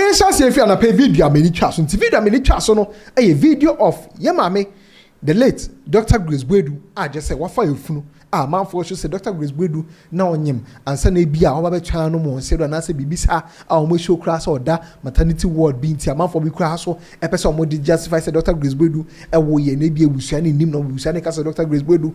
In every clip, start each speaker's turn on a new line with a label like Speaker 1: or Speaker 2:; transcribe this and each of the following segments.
Speaker 1: Nhyɛase efi anapa yi video a m'ani twaa so nti. Video a m'ani twaa so no yɛ video of yɛn maame the late Dɔkta Grace Boadu a gyɛ sɛ wafa efunu a amanfoɔ su sɛ Dɔkta Grace Boadu na ɔnyem ansa na ebi a ɔba bɛtwɛn anom wɔ nsɛdɔ anaasɛ biribi saa a wɔn ahyɛ koraa sɛ ɔda maternity ward bi nti amanfoɔ bi koraa so pɛ sɛ wɔn de justify sɛ Dɔkta Grace Boadu woo yɛn na ebi abusua no nnim na abusua no ka sɛ Dɔkta Grace Boadu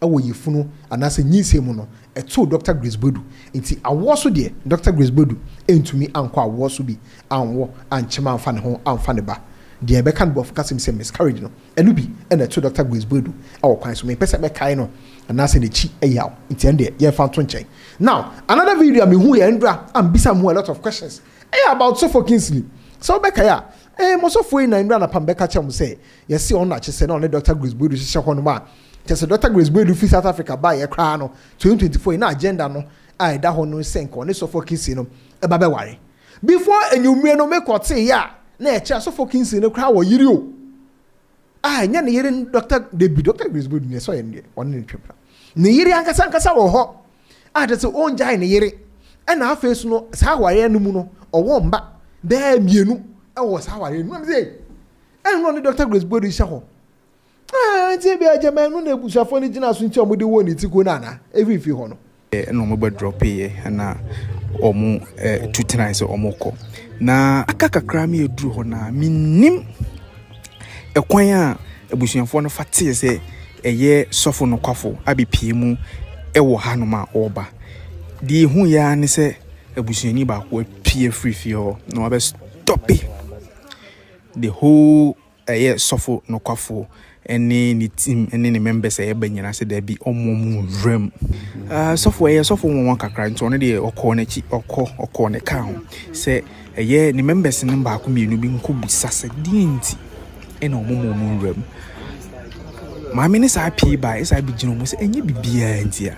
Speaker 1: wɔ yafunu anaasɛ nyinsɛn mu no, ɛtoo Dɔkta Grace Boadu. Enti awoɔ so deɛ, Dɔkta Grace Boadu antumi ankɔ awoɔ so bi anwo, ankyem amfa ne ho amfa ne ba. Deɛ yɛbɛka no Borɔfo kasa mu sɛ miscarriage no, ɛno bi na ɛtoo Dɔkta Grace Boadu wɔ kwan so. Mempɛ sɛ mɛkae no anaasɛ n'akyi yaw, enti ɛno deɛ yɛmfa nto nkyɛn. Now, another video a mehu yɛ Ndra a mebisa mo a lot of questions, ɛyɛ about Sɔfoɔ Kingsley. Sɛ wobɛkae a, eh, mo sɔfoɔ yi na Ndra Anapam bɛka kyerɛ mo sɛ Yɛse ɔno na kyesɛ na ɔne Doctor Grace Boadu hyehyɛ hɔ nom a, kyɛsɛ Doctor Grace Boadu fi South Africa baeɛ koraa no 2024 yi na agenda no a ɛda hɔ no sɛ nka ɔne Sɔfɔ Kinsey no ba bɛware. Before anwummere no me kɔ tee a na ɛkyerɛ a Sɔfɔ Kinsey no koraa wɔ yere o a ɛnyɛ ne yere ne Doctor dabi Doctor Grace Boadu neɛ sɛ ɔyɛ neɛ ɔne ne twɛ pra ne yere ankasa ankasa wɔ hɔ a kyɛ sɛ ɔngyae ne yere ɛna afei so no saa awareɛ no mu no ɔwɔ mba bɛɛ mmienu ɛwɔ saa awareɛ no mu na me sɛ Ɛno na ɔne Dɔkta Grace Body hyɛ hɔ. Ah, nti ebia agyama ɛno na abusuafoɔ no gyina so nti a wɔde woo ne ti ko no anaa? Efi mfi hɔ no. Ɛna wɔn bɛ drop
Speaker 2: yɛ ɛna wɔn eh, tu tenae sɛ wɔn kɔ. Na aka kakra mi aduru hɔ na mi nim ɛkwan a abusuafoɔ no fa teɛ sɛ ɛyɛ sɔfo no kwafo abɛpie mu ɛwɔ hanom a ɔreba. Deɛ ehu yɛ ara ne sɛ abusuani baako apue afiri fie hɔ na wabɛ stɔpe The whole ɛyɛ sɔfo nokwafo ne ne team ne ne members ɛyɛ ba nyina sɛ daabi ɔmo ɔmo nwura mu ah, sɔfo ɛyɛ sɔfo nwanwa kakra nti ɔno deɛ ɔkɔɔ n'akyi ɔkɔ ɔkɔɔ ne kaa ho sɛ ɛyɛ ne members no baako mmienu bi nkɔ bisa sɛ deɛ nti ɛna ɔmo ɔmo ɔmo nwura mu maame ne saa pii baa ɛsaa bi gyina ɔmo sɛ ɛnyɛ bibiaa nti a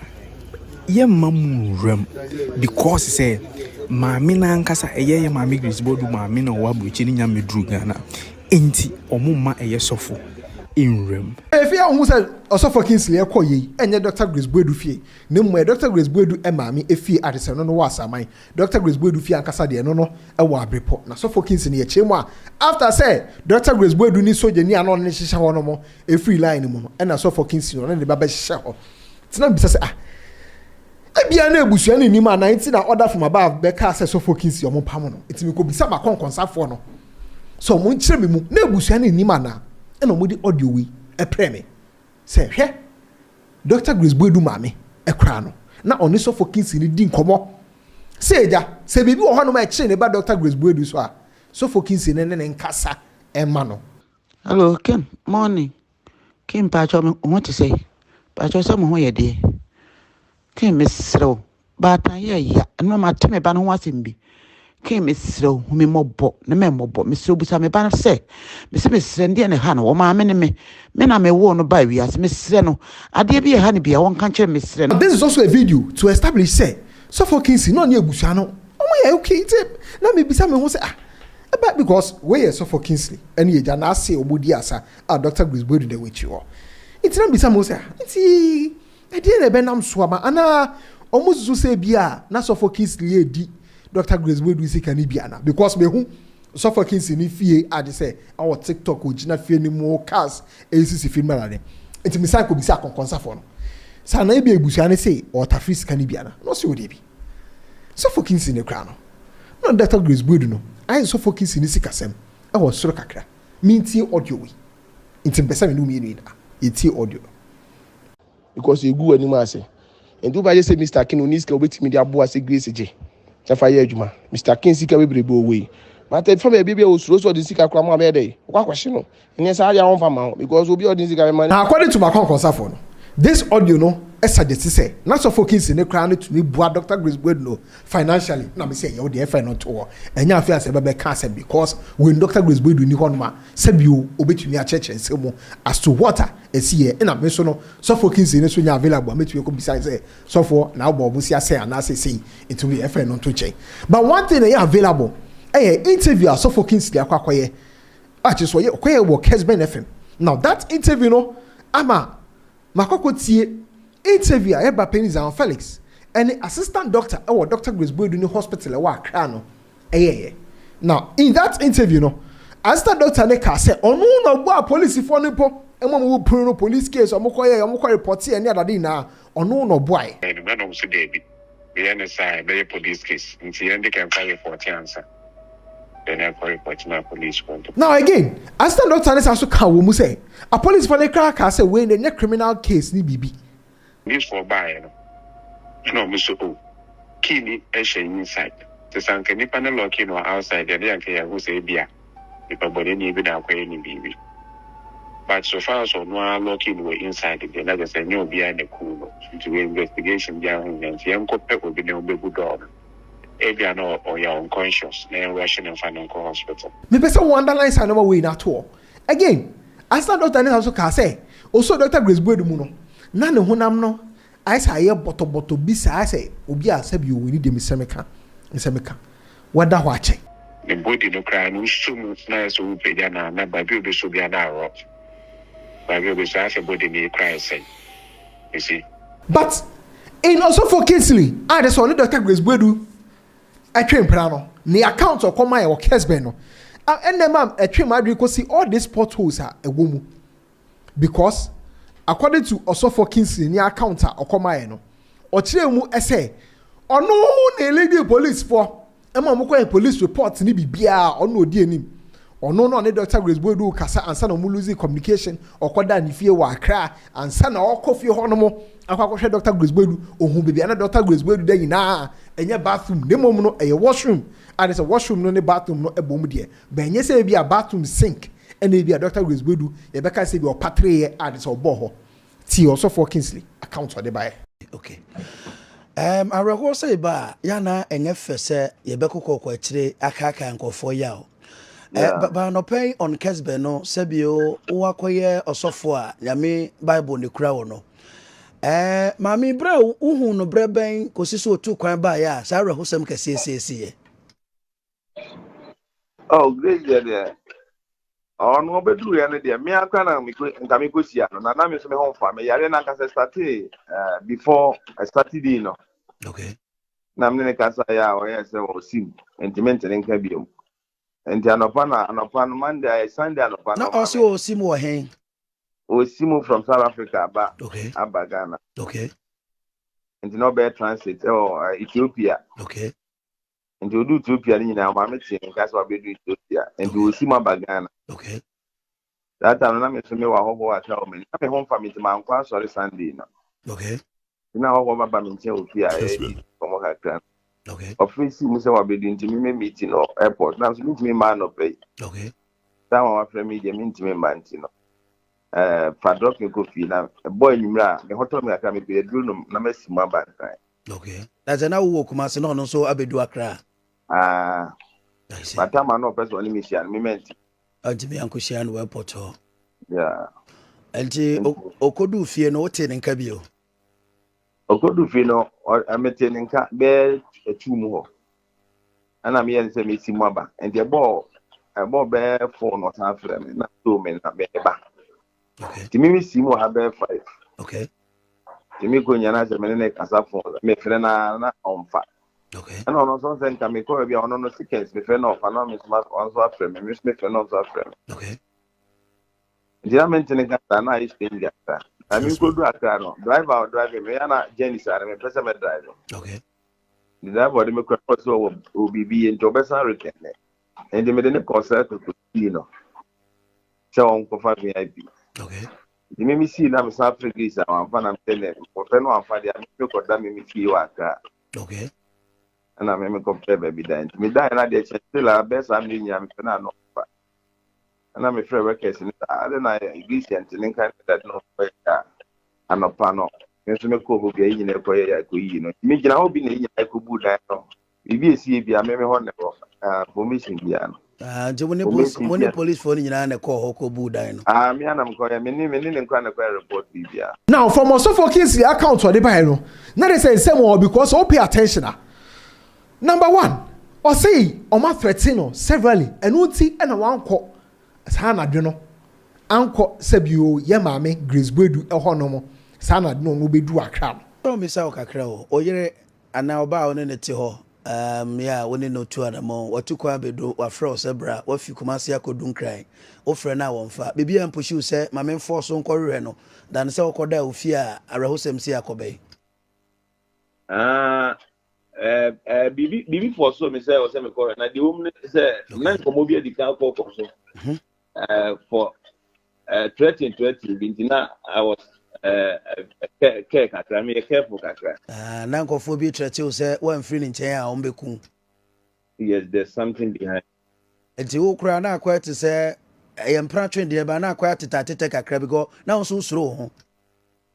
Speaker 2: yɛmma mu nwuram because sɛ maame no ankasa ɛyɛ yɛ maame Grace Boadu maame na ɔwɔ aburokyi no nya mmɛduru Ghana nti wɔn mma ɛyɛ sɔfo nwuram. Afei a wohu sɛ Ɔsɔfo Kingsley rekɔ yei ɛnyɛ Dɔkta Grace Boadu fie na mmom ɛyɛ Dɔkta Grace Boadu maame efie a te sɛ ɛno no wɔ Asaman Dɔkta Grace Boadu fie ankasa deɛ ɛno no ɛwɔ Abirepɔ na Sɔfo Kingsley yɛ kyerɛ mu a after sɛ Dɔkta Grace Boadu ne sogyani a na ɔne no hyehyɛ hɔ nom Efiri line no mu no, ɛna sɔfɔ Kingsley no ne ne ba bɛhyɛ hɔ. Nti na mebisa sɛ, ah, ebia na abusua no nnim anaa nti na order from above bɛkaa sɛ sɔfɔ Kingsley wɔmpam no. Nti mekɔbisa m'akɔnkɔnsafoɔ no sɛ wɔnkyerɛ me mu, na abusua no nnim anaa, ɛna wɔde audio wei ɛprɛɛ me sɛ, hwɛ, Doctor Grace Boadu maame koraa no, na ɔne sɔfɔ Kingsley no di nkɔmmɔ sɛ, agya, sɛ biribi wɔ hɔnom a ɛkyere ne ba Doctor Grace Boadu so a, sɔfɔ Kingsley no ne ne nkasa mma no. Hello Kim,
Speaker 3: morning. Kim mpakyɛw me ho te sɛ. Mpakyɛw sɛ mo ho yɛ deɛ. Kim mesrɛ wo, baatan yɛ ya. Ɛno ma te me ba no ho asɛm bi. Kim mesrɛ wo, hu me mmɔbɔ, ne me mmɔbɔ. Mesrɛ busa me ba no sɛ, mesɛ mesrɛ no deɛ na ɛha no, wɔ maame ne me. Me na me woo no baa wiase, mesrɛ no. Adeɛ bi ɛha no bia, wɔnka nkyerɛ me, mesrɛ no. This is also a video to
Speaker 1: establish sɛ Sɔfo Kinsey na ɔne abusua no wɔyɛ okay nti na mebisa me ho sɛ ah. Ɛba because wei yɛ sɔfɔ Kingsley ɛne agya naase ɔmo di asa a Doctor Grace Boadu da wɔakyi hɔ nti na mibisa mo sɛ ah nti ɛdeɛn na ɛbɛnam so ama anaa ɔmo susu sɛ ebia na sɔfɔ Kingsley edi Doctor Grace Boadu sika no bi ana because mehu sɔfɔ Kingsley ne fie agye sɛ ɔwɔ tiktok ogyina fie no mu cars esisi fie no mu na ade nti mesan kɔ bisa akɔnkɔnsafɔ no sɛ anaa ebia ebusua no se ɔɔtafere sika no bi ana na ɔse o deebi. Sɔfo Kinsey no koraa no, nna Ɔdɔktɔ Grace Boadu no ayɛ Sɔfo Kinsey ne sikasɛm wɔ sor kakra. Mintsie audio wei, ntsi mepɛ dɛ me no wo mmienu nyina yetsie audio no.
Speaker 4: Because egu w'anim ase. Enti wobɛayɛ sɛ Mister King, onni sika a obetumi de aboa sɛ Grace gye. Sɛ fa yɛ adwuma. Mister King sika bebrebe ɔwɔ yi. But ɛfa baabi a ebia osuro sɛ ɔde ne sika koraa ma a ɔbɛyɛ dɛn? Wokɔ akɔhye no. Ɛnyɛ saa deɛ a wɔmfa mma wo because obi a ɔde ne sika bɛma. Na according to m'akwankwasafoɔ
Speaker 1: no, this audio no suggest sɛ na Sɔfo Kinsey no koraa no tumi boa Doctor Grace Boyd no financially. Na mese ɛyɛ wo deɛ ɛfɛ no nto hɔ, ɛnyɛ afei ansa yɛbɛbɛka asɛm because when Doctor Grace Boyd nni hɔnom a sɛbio ɔbɛtumi akyerɛkyerɛ nsɛm mu as to what a ɛsiiɛ. Ɛna me nso no Sɔfo Kinsey no nso nyɛ available a mɛtumi akɔbisa no sɛ Sɔfoɔ na wobɔ wɔn sika sɛn anaa seisei nti wo deɛ ɛfɛ no nto nkyɛn. But one thing a ɛyɛ available yɛ interview a Sɔfo Kinsey de akɔ akɔyɛ Ah kyerɛ sɛ ɔyɛ ɔkɔ yɛ wɔ Kesben FM now that interview no ama makɔ akɔ tie interview a ɛba panyin Zion Felix ɛne assistant doctor ɛwɔ Doctor Grace Boadu ne hospital ɛwɔ Accra no ɛyɛ yɛ now in that interview no assistant doctor ne kaa sɛ ɔno na ɔbɔ a police foɔ no mpo ɛmu ɔmo wɔ punu no police case ɔmo kɔ yɛ ɔmo kɔ report yɛ ne adade nyinaa ɔno na ɔbɔ ayɛ. Ɛna ɔmo so daabi
Speaker 5: yɛ ne saa ɛbɛyɛ police case nti yɛn de kɛmfa report ansa. Then I call report my police contact. Now again, assistant
Speaker 1: doctor ne saa so ka wɔ mu sɛ apolisifoɔ no koraa kaa sɛ wei no ɛnyɛ criminal case ne biribi. Policefoɔ
Speaker 5: baeɛ no, ɛna wɔn so oh, key ni ɛhyɛ inside. Te sɛ anka nipa no locki no wɔ outside deɛ, ɛne anka yɛahu sɛ ebia nipa bɔneni bi na akɔyɛ no biribi. But so far as ɔno ara locki no wɔ inside deɛ, na kyerɛ sɛ ɛnyɛ obiara na ɛkum no. Nti wɔ investigation biara ho hia, nti yɛnkɔpɛ obi na wɔbɛbu dɔɔ no. Ebia na ɔyɛ unconscious na yɛnrush no mfa no nkɔ hospital. Mepɛ sɛ wo underline
Speaker 1: saa nnoɔma wei no ato hɔ. Again, Assistant Doctor no san nso kaa sɛ ɔsɔɔ Doctor Grace Boadu mu no, na ne honam no ayɛ sɛ ayɛ bɔtɔbɔtɔ bi saa ayɛ sɛ obi a sɛbi o, ɛni deɛ mesɛ meka, mesɛ meka, wada hɔ akyɛ. Ne body no
Speaker 5: koraa no wosɔ mu na ayɛ sɛ worepagya no a na baabi a wobɛsɔ biara na arough. Baabi a wobɛsɔ ayɛ sɛ body no kura ayɛ sɛn. you see. But
Speaker 1: in Osofo Kingsley a ne sɛ ɔne Dɔkta Grace Boadu ɛtwe mpena no, ne account a ɔkɔ mae wɔ Kesben no, ɛnna ma ɛtwe m'adwene kɔsi all these potholes a ɛwɔ mu. Because according to Osofo Kingsley ne account a ɔkɔ mae no, ɔkyerɛɛ mu sɛ ɔno ne leading policefoɔ Ɛma ɔmo kɔyɛ polis repɔt ne biribiaa a ɔno na ɔdi anim. Ɔno na ɔne Dɔkta Grace Boadu kasa ansa na ɔmo losee communication, ɔkɔ daa ne fie wɔ Accra ansa na ɔɔkɔ fie hɔ nom akɔ akɔ hwɛ Dɔkta Grace Boadu. Ohuu baabi a na Dɔkta Grace Boadu da nyinaa a ɛnyɛ bathroom na mmom no ɛyɛ washroom a ne sɛ washroom no ne bathroom no bom deɛ bɛn nyɛ sɛ ebia bathroom sink na ebia Dɔkta Grace Boadu yɛbɛka sɛ ebia ɔpatreeɛ a ne sɛ ɔbɔɔ hɔ. Tie ɔsɔfoɔ Kingsley account ɔde baeɛ. Ok.
Speaker 6: Ɛɛm awerɛhoɔ sɛ yɛba a, yɛ a na ɛnyɛ fɛ sɛ yɛbɛkokɔkɔ akyire akaakae nkorɔfoɔ yaw. Ɛɛ ba ba anɔpa yi on Kesbeh no sɛbio wo akɔyɛ ɔsɔfoɔ a Nyame Bible na ɛkura wo no. Ɛɛ maame yi berɛ a wo huu no berɛ bɛn kɔsi sɛ ɔtuu kwan baeɛ a saa awerɛhosɛm kɛseɛ yi siesie yɛ?
Speaker 7: oh grace deɛ deɛ ɔno ɔbɛduru yɛ no deɛ me akora na mekɔ nka mekɔ hyia no na na me nso me ho mfa me yare na nkasa startee uh, before uh, saturday no okay
Speaker 6: na mene ne
Speaker 7: kasa yɛ a ɔyɛ sɛ ɔsim ntimi ntene nka biom nti anɔpa na anɔpa no monday ayɛ sunday anɔpa na ɔse ɔsim wɔ
Speaker 6: hen ɔsim
Speaker 7: from south africa aba okay aba ghana okay
Speaker 6: nti
Speaker 7: na ɔbɛyɛ transit ɛwɔ uh, ethiopia okay
Speaker 6: nti ɔdu
Speaker 7: ethiopia no nyinaa maame tee ne nka sɛ wabɛdu ethiopia nti ɔsi mu aba ghana okay.
Speaker 6: that
Speaker 7: time na me so mewɔ ahɔhoɔ aka wɔ m'ani na me ho mfa me nti mankɔ asɔre sunday no okay.
Speaker 6: na ahɔhoɔ
Speaker 7: baba me nkyɛn wɔ fie a ɛdi nkɔmmɔ kakra okay. ɔfrɛ
Speaker 6: si mu sɛ wabɛdu
Speaker 7: nti me mɛ meeti no airport na so mentumi mma anɔpɛ yi okay.
Speaker 6: saa ma wafrɛ
Speaker 7: me deɛ mentumi mma nti no eh, fa drop me kɔ fie na ɛbɔ anwummerɛ a mehɔtɔ me kakra mepɛ aduro nom na masi mu aba nkran Okay. Na sɛ
Speaker 6: na wowɔ Kumasi na ɔno nso abɛdu Accra. Ah.
Speaker 7: Bata ma na ɔpɛ sɛ ɔne me hyia no mema nti. Ɔntumi ankɔhyia
Speaker 6: no wɔ airport hɔ. Yeah.
Speaker 7: Nti
Speaker 6: ɔkɔdu fie no wotee ne nka bio?
Speaker 7: Ɔkɔdu fie no metee ne nka bɛɛ atu mu hɔ. Ɛna meyɛ ne sɛ mesi mu aba. Nti ɛbɔɔ ɛbɔɔ bɛɛ fon na ɔsan frɛ me na so me na meba. okay tìmí
Speaker 6: mi si mu ha
Speaker 7: bɛyɛ five okay tìmí kò nyɛ n'asɛ mi ne ne kasa
Speaker 6: fon
Speaker 7: mi fere na na ɔnfa okay ɛna ɔno nso nsɛ nka mi kɔ baabi a ɔno no seconds mi fere na ɔfa na mi nso ɔno nso afrɛ mi mi nso mi fere na ɔno nso afrɛ mi okay nti na mi nti ne kasa na ayɛ stranger kasa na mi nkɔ du akra no driver ɔ drive mi yɛ na journey saa no mi pɛ sɛ mi drive okay
Speaker 6: ne driver
Speaker 7: ɔde mi kɔ ɛkɔ so wɔ obibi yɛ nti ɔbɛsan rekɛn ne nti mi de ne kɔ sɛ ɛtɔ so pii no. sɛ wɔn kɔfa vip okay
Speaker 6: nti mímí sii
Speaker 7: na mi san firi greece a wɔn afa na mi sɛ nɛ wɔfɛ no wɔn afa deɛ mímí kɔ da mímí fie wɔ akra okay
Speaker 6: ɛna
Speaker 7: mímí kɔ pɛ baabi da nti mi da yɛn na deɛ kyɛn still a bɛɛ saa mi nyina mi fɛ na ano fa ɛna mi fɛ workers ni saa ɛna na greece yɛn ti ne nkan ne dade na wɔn fɛ yɛ anɔpa no mi nso mi kɔ hɔ bi a yɛ nyina ɛkɔ yɛ yɛ ɛkɔ yiyi no mi gyina hɔ bi na yɛ nyina ɛkɔ bu dan no. biribi esi ebi a meme hɔ na ɛwɔ ah polisi bia no. Ah nti mo ne polisi
Speaker 6: mo ne polisi fo no nyinaa na ɛkɔɔ hɔ kɔ buu dan no. Ah me anam kɔ yɛ
Speaker 7: me ne me ne ne nkora na ɛkɔ report biribi a. Now from
Speaker 1: Osofo Kingsley account ɔde bae no na de sɛ nsɛm wɔ hɔ because sɛ wo pay attention a number one ɔsee wɔn a threaten no severally ɛno nti na wankɔ saa anadwo no ankɔ sɛbi o yɛ maame Grace Boadu hɔ nom saa anadwo no wɔn bɛduu Accra no. Mɛbisa wo kakra
Speaker 6: o oyere Anaa ɔbaa a wo ne no te hɔ aa, mmea a wo ne no tu anammɔn, watu kɔ abedu, wafrɛ wo sɛ bra, wafi Kumasi akɔdu Nkran, wofrɛ no a wɔmfa, biribiara mpushi wo sɛ ma memfɔɔ so nkɔhwehwɛ no than sɛ wokɔdaa wo fie a awerɛhosɛm sei akɔbɛn. Aa ɛɛ ɛɛ biribi
Speaker 7: biribi fɔɔsoo me sɛ ɛwɔ sɛ mekɔhwɛ na deɛ ɛwom ne sɛ na nkɔmmɔ bi adi kan akɔkɔ so. uh, for uh, threatening threatening bi nti na i was uh, uh, care kakra meyɛ careful kakra uh, na nkɔfoɔ bi
Speaker 6: trɛte wo sɛ woamfiri ne nkyɛn a wɔbɛku yes
Speaker 7: there's something behind nti wo
Speaker 6: koraa na akɔɛ te sɛ ɛyɛ mpratwe deɛ ba na akɔɛ atetɛ atetɛ kakra bi kɔ na wo nso wosuro wo ho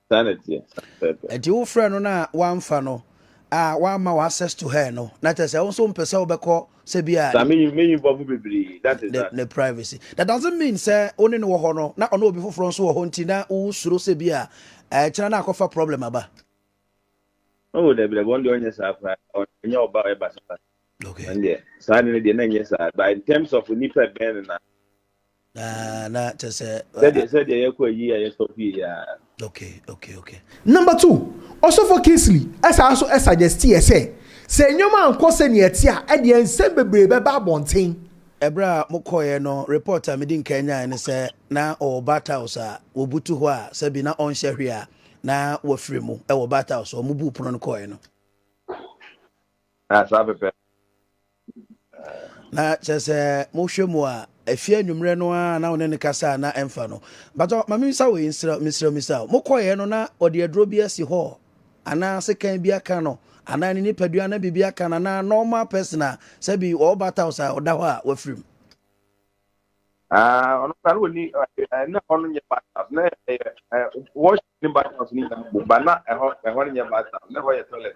Speaker 6: Saa na ɛteɛ.
Speaker 7: Pɛpɛɛpɛ. Nti
Speaker 6: wo frɛ no na wamfa no a wamma wo access to her no na kyerɛ sɛ wo nso mpɛ sɛ wobɛkɔ sɛ bi a Saa ne meyi meyi bɔfo bebree.
Speaker 7: That is ne that. ne privacy. That
Speaker 6: doesn't mean sɛ wo ne no wɔ hɔ no na ɔne obi foforɔ nso wɔ hɔ nti na wosuro sɛ bi a ɛkyena na akɔfa problem aba.
Speaker 7: Oh dabi dabi ɔno deɛ ɔnyɛ saa koraa. Ɔ- Ɛnyɛ ɔba a ɔyɛ basabasa. Okay. Ɛno deɛ
Speaker 6: saa de no
Speaker 7: deɛ na ɛnyɛ saa. But in terms of nipa bɛn no na na
Speaker 6: kyɛ sɛ sɛdeɛ sɛdeɛ yɛkɔ ayi
Speaker 7: a yɛsɔ fie yɛ okay okay
Speaker 6: okay number
Speaker 1: two ɔsɔfo kingsley ɛsaa nso ɛsuggesti yɛ sɛ sɛ nneɛma ankɔ sɛ nea ɛte a ɛdeɛ nsɛm bebree bɛba abɔnten ɛberɛ a
Speaker 6: mokɔeɛ no report a medi nkan nyaeɛ ne sɛ na ɔwɔ bat house a wɔbutu hɔ a sɛbi na ɔnhyɛ hwee a na wafiri mu ɛwɔ bat house ɔmo buu pono no kɔeɛ no saa
Speaker 7: pɛpɛ
Speaker 6: Na kyerɛ sɛ mohwɛ mu a, ɛfi anwummerɛ no ara na wo ne no kasa a na ɛmfa no. Mpatɔ, ma memmisa wei nsrɛ, mesrɛ misa o. Mokɔeɛ no na ɔde aduro bi asi hɔ anaa sekan bi aka no anaa ne nipadua na biribi aka no anaa normal person a sɛ bi ɔwɔ bat house a ɔda hɔ a wafiri mu?
Speaker 7: Ah, ɔno kora na ɔni na ɛhɔ no nyɛ bathhouse na ɛyɛ wash ne bathhouse no nyinaa bom ba na ɛhɔ ɛhɔ no nyɛ bathhouse na ɛhɔ yɛ toilet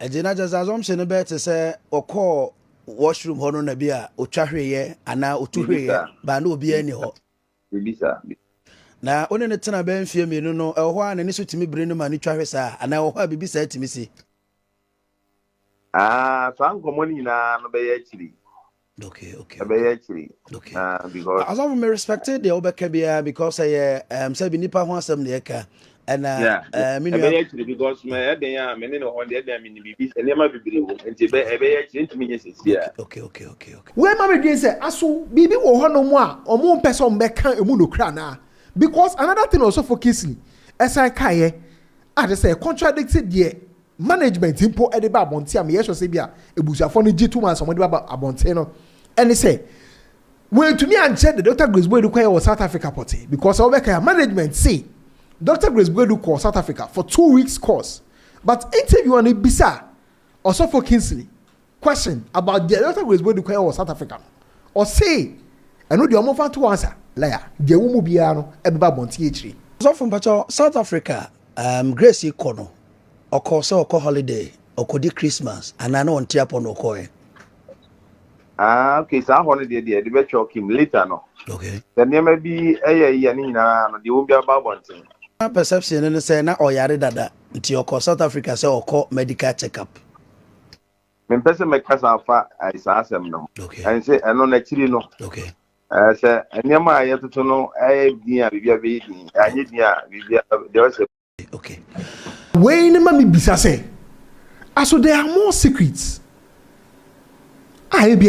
Speaker 6: Ɛnti na kyerɛ sɛ assumption no bɛyɛ te sɛ ɔkɔɔ washroom hɔ no na bi a ɔtwa hweeɛ anaa ɔtu hweeɛ baa na obiara nni hɔ.
Speaker 7: Na
Speaker 6: wo ne no tena bɛyɛ mfeɛ mmienu no ɛwɔ hɔ a n'ani so tumi bere no ma no twa hwe saa anaa ɛwɔ hɔ a biribi saa tumi si. Ah,
Speaker 7: saa nkɔmmɔ no nyinaa no bɛyɛ akyiri. Okay,
Speaker 6: okay. Ɛbɛyɛ akyiri.
Speaker 7: Okay.
Speaker 6: Uh, because. Asɔfo ah, mi
Speaker 7: respect
Speaker 6: deɛ wobɛka biara because ɛyɛ eh, um, sɛ bi nipa ho asɛm na yɛka. Ɛna eh, mi nua. Ɛbɛyɛ
Speaker 7: akyiri because mɛ ɛdɛn eh, a mɛ ne ne hɔ deɛ ɛdɛn mi ni bibi nneɛma bebree wɔ mu nti ɛbɛyɛ akyiri ntumi nye sisi a. Okay, okay, okay, okay.
Speaker 6: Wei ma mi
Speaker 1: dwen sɛ aso biribi wɔ hɔ nom a wɔn mpɛ sɛ wɔn bɛka emu no kura naa because another thing ɔsɔfo kisi ɛsan kaeɛ a de sɛ contradict deɛ management mpo de ba abɔnten a meyɛ sure sɛ ebia abusuafoɔ no gye tom ara sɛ wɔde ba abɔnten no ne sɛ wɔantumi ankyerɛ de Dr. Grace Boadu kɔyɛ wɔ South Africa pɔtee because sɛ wobɛka a management se Dr. Grace Boadu kɔɔ South Africa for two weeks course but interviewer no bisa Ɔsɔfo Kingsley Question about deɛ Doctor Grace Bodu kɔyɛ wɔ South Africa no, ɔsee ɛno deɛ ɔmfa nto wɔn asa, Laya, deɛ ɛwɔ mu biara no ɛbɛba abɔnten akyire. Ɔsɔfo mpakyɛ
Speaker 6: South Africa a um Grace kɔ no ɔkɔ sɛ ɔkɔ holiday ɔkɔdi Christmas anaa na ɔnte apɔ na ɔkɔɛ? Ah
Speaker 7: okay saa hɔ no deɛ deɛ ɛde bɛtwɛ ɔkim later no. Okay. Sɛ nneɛma
Speaker 6: bi
Speaker 7: ɛyɛ yɛ ne nyinaa no deɛ ɛwɔ mu biara bɛba abɔnten. Na perception no ne
Speaker 6: sɛ na ɔyare dada nti ɔkɔ South Africa sɛ ɔkɔ medical check up.
Speaker 7: mempɛ sɛ mɛkasa afa eh, saa asɛm no ho ɛne sɛ ɛno
Speaker 6: n'akyiri
Speaker 7: no eh,
Speaker 6: sɛ
Speaker 7: nneɛma a yɛtoto no ɛyɛ din a biribia bɛyɛ din anyɛ din a biribia deɛ ɔsɛ okay
Speaker 6: wei
Speaker 1: ne ma mebisa sɛ aso there are more secrets a ebia